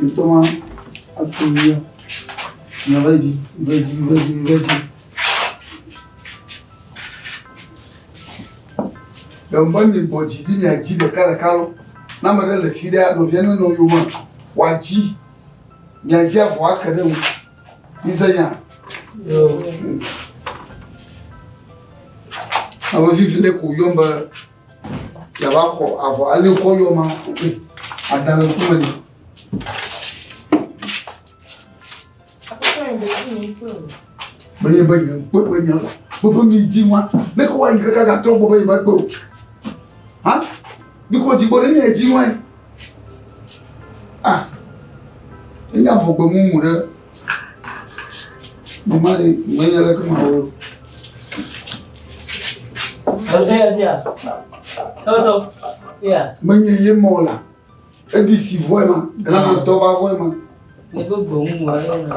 Ntoma atulia na veji veji veji veji. Ɖewo mi bɔ dzi ɖi mia dzi ɖeka ɖeka lɔ. Na me ɖe le fi ɖe nɔvia ne nɔ yoma wa dzi mia dzi avɔ ake ɖe ŋu. Izenya. Ame vivi le ko yɔm be Yava xɔ avɔ ali wokɔ yɔ ma ada le ŋkume ni. Menye be nye kpe be nye gbogbo mi di wa ne ko wa yi kaka ga tɔ gbogbo yi ma kpe o. Ha? Bi ko jigbo ne nye di wa. Ah. Enya vogbe mumu ɖe. Mama ɖe menya leke mawɔ. Eya fia. Eto. Eya. Menye ye mɔ la. Ebi si vɔe ma. Gana tɔ ba vɔe ma. Ne be gbɔmu wa ye na.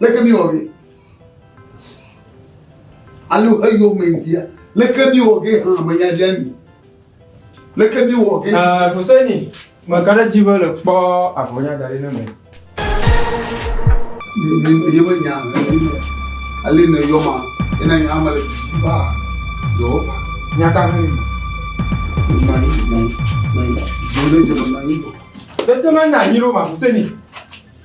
leke mi wɔ ge? Alo eyɔ me dia, leke mi wɔ ge hã me nya dia mi? Leke mi wɔ ge? Ɛɛ, Fuseni, me ka ɖe dzi be le kpɔ avɔnya da ɖi ne me. Ye me nya, ale ne yɔ ma, ena nya me le didi ba, yɔ ba. Nya ka hɛ? Nya yi, nya yi, nya yi, dzi le dzi me nya yi. Bɛtɛ me nya yi lo ma Fuseni.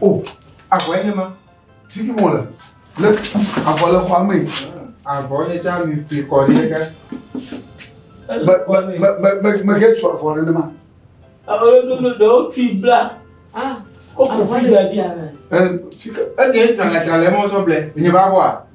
o avɔ enye ma sigi mo le le avɔ le xɔa me avɔ nye tsa mi fi kɔ ɖi ɖeka be be be be me ke tu avɔ ɖe ne ma. alo ɖoɖo ɖewo ti bla ah kɔpu fi da di. ɛ fi ke eke tsangatsanga le mɔ sɔ blɛ nye ba bɔ a.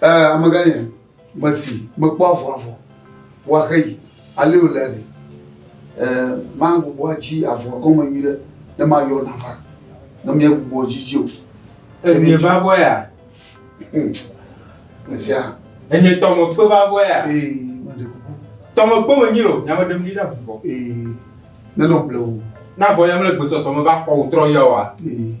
Ɛɛ, amegã nye mesi mekpɔ avɔ avɔ wa xeyi ale wòle ɖe? Ɛɛ, magbugbɔ adzi avɔa gɔme nyuiɖe ne mayɔ nava, ne miegbugbɔ dzi dzi o. Ɛɛ, nye va vɔ ya? Esia. Ɛɛ, nye tɔmekpe va vɔ ya? Ee, meɖe kuku. Tɔmekpe menyi o, nya meɖem ɖi na vuvɔ. Ee, nenɔ blewu. Na vɔ ya mele gbesɔsɔ me va xɔ wò trɔ ya oa? Ee.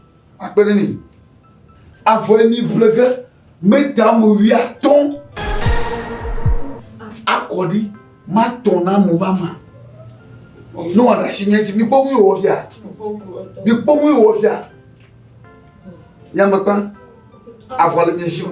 Akpe ɖe mi. Avɔe mi ʋle ge meta mo wuiatɔ̃. Akɔ ɖi matɔ̃ na mo mama. Ne wɔ ɖasi mi edzi mi kpɔ ŋu wɔ fia. Mi kpɔ ŋu wɔ fia. Yamekpa avɔ le mi si o.